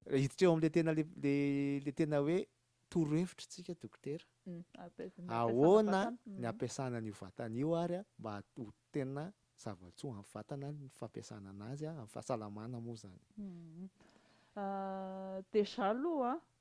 Hiditra eo amin'ilay tena ilay tena hoe torohevitra tsika dokotera. Mm, Ahoana ny mm. ampiasana an'io vatana io ary mba ho tena zava-tsoa amin'ny vatana ny fampiasana anazy amin'ny fahasalamana moa zany. Mm. Ah, deja aloha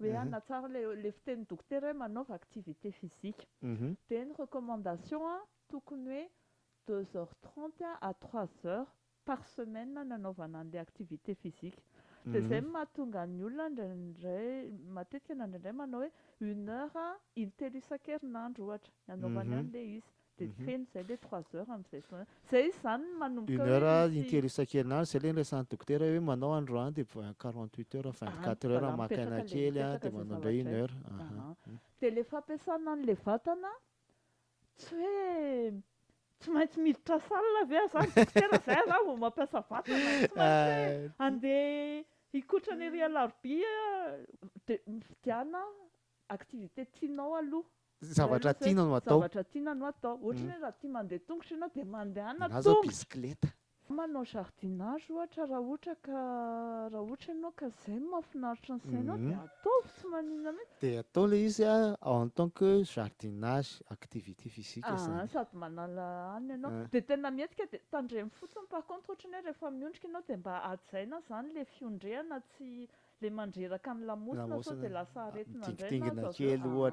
hoe ah na tsara le le fitenin'ny dokotera hoe manaova activité physique dia ny recommandation a tokony hoe deux heures trente à trois heures par semaine nanaovana an'ilay activité physique dia izay no mahatonga ny olona indraindray matetika na indraindray manao hoe une heure intelo isan-kerinandro ohatra ny anaovany an'ilay izy Dia feno izay ilay trois heures amin'izay fotoana izay. Izay izany no manomboka hoe misy. Une heure intelo isan-kerinandro, izay ilay noresahan'ny dokotera hoe manao androany dia quarante huit heures, vingt quatre heures maka aina kely dia manao indray une heure. Ahaa. Dia ilay fampiasana an'ilay vatana tsy hoe tsy maintsy miditra salle ve aza ny dokotera izay aza vao mampiasa vatana, tsy maintsy hoe andeha hikotrana ery alarobia dia mividiana Activité tianao aloha. Zavatra tiana no atao. Zavatra tiana no atao. Ohatra hoe raha tia mandeha tongotra ianao dia mandehana tongotra. Na izao bisikileta. Manao jardinage ohatra raha ohatra ka raha ohatra ianao ka izay no mahafinaritra ny sainao dia ataovy tsy maninona mihitsy. Dia atao ilay izy en tant que jardinage, activité physique izany. Aa sady manala hanina ianao. Dia tena mihetsika dia tandremo fotsiny par contre ohatra ny hoe rehefa miondrika ianao dia mba hajaina izany ilay fiondrehana tsy Le mandreraka ny lamosina sao de lasa aretina indray na azo avy eo ah.